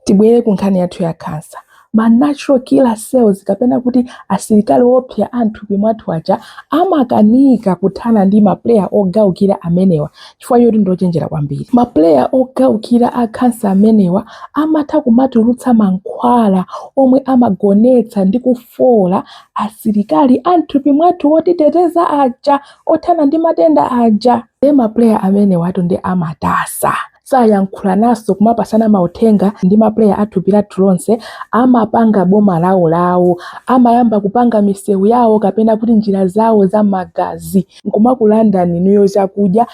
Tibwere ku nkhani yathu ya khansa. Ma natural killer cells kapena kuti asilikali oopsa a m'thupi mwathu aja amakanika kuthana ndi mapuleya ogaukira amenewa chifukwa choti ndi ochenjera kwambiri. Mapuleya ogaukira a khansa amenewa amatha kumatulutsa mankhwala omwe amagonetsa ndi kufoola asilikali a m'thupi mwathu otiteteza aja, othana ndi matenda aja. Ndiye mapuleya amenewatu ndiye amatasa. sayankhulanaso kumapasana mauthenga ndi ma player a thupi lathu lonse amapanga boma lawo lawo amayamba kupanga misewu yawo kapena kuti njira zawo za magazi nkumakulandani inuyo chakudya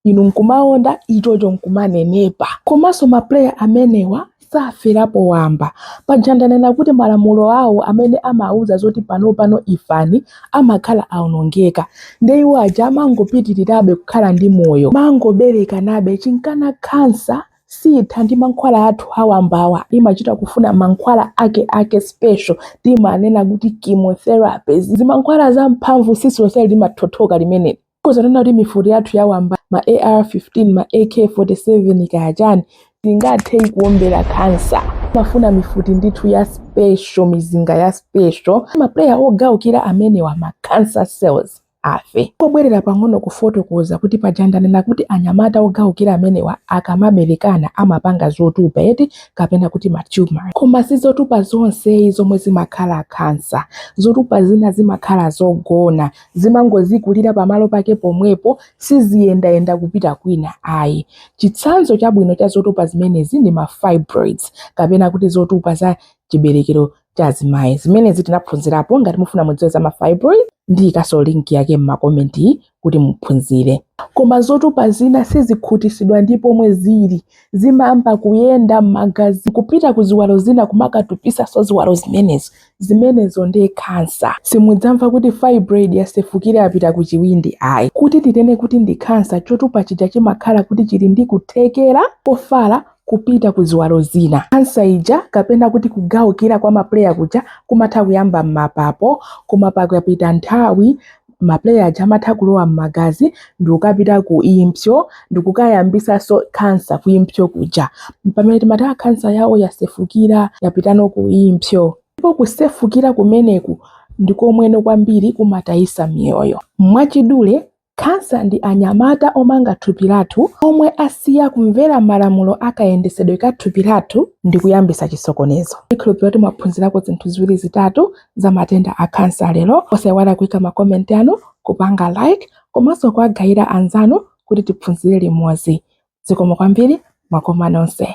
inu nkumaonda ichocho nkumanenepa komanso ma player amenewa saferapo wamba. Paja ndanena kuti malamulo awo amene amauza zoti panopano ifani amakhala aonongeka. Nde iwo aja amangopitirirabe kukhala ndi moyo. Mangoberekanabe chinkana khansa siitha ndi mankhwala athu awambawa, imachita kufuna mankhwala akeake special, timanena kuti chemotherapy. Zimankhwala zamphamvu tsitsi lonse limathothoka limene. Tikhoza kunena kuti mifuti yathu yawamba, ma AR-15, ma AK-47, kaya chani, singathe kuombera khansa. Timafuna mifuti ndithu ya special, mizinga ya special. Ma player ogaukira amenewa, ma cancer cells, afe. Ndingobwerera pang'ono kufotokoza kuti paja ndanena kuti anyamata ogaukira amenewa akamaberekana amapanga zotupa eti, kapena kuti ma tumours. Koma si zotupa zonse ayi zomwe zimakhala cancer. Zotupa zina zimakhala zogona, Zimangozikulira pamalo pake pomwepo, siziyendayenda kupita kwina ayi. Chitsanzo chabwino cha zotupa zimenezi ndi ma fibroids, kapena kuti zotupa za chiberekero cha azimayi. Zimenezi tinaphunzirapo, ngati mufuna mudziwe za ma fibroids, ndiikanso link yake m'makomenti kuti muphunzire. Koma zotupa zina sizikhutisidwa ndi pomwe zili, zimayamba kuyenda m'magazi n'kupita ku ziwalo zina kumakatupisanso ziwalo zimenezo. Zimenezo nde khansa. Simudzamva kuti fibroid yasefukira yapita ku chiwindi ayi. Kuti tinene kuti ndi khansa, chotupa chija chimakhala kuti chili ndi kuthekera kofala kupita ku ziwalo zina. Khansa ija kapena kuti kugawukira kwa ma player kuja kumatha kuyamba m'mapapo koma pakapita nthawi, ma player aja amatha kulowa m'magazi ndikukapita ku impsyo ndikukayambisanso cancer ku impsyo kuja pamene timati aa cancer yawo yasefukira yapitano ku impsyo ndipo kusefukira kumeneku ndi komweno kwambiri kumatayisa miyoyo mwachidule khansa ndi anyamata omanga thupi lathu omwe asiya kumvera malamulo akayendesedwe ka thupi lathu ndi kuyambisa chisokonezo ndikhulupirira kuti mwaphunzirako zinthu ziwiri zitatu za matenda a khansa lero. Osaiwala kuika makomenti anu, kupanga like komanso kuwagayira anzanu kuti tiphunzire limodzi. Zikomo kwambiri, mwakoma nonse.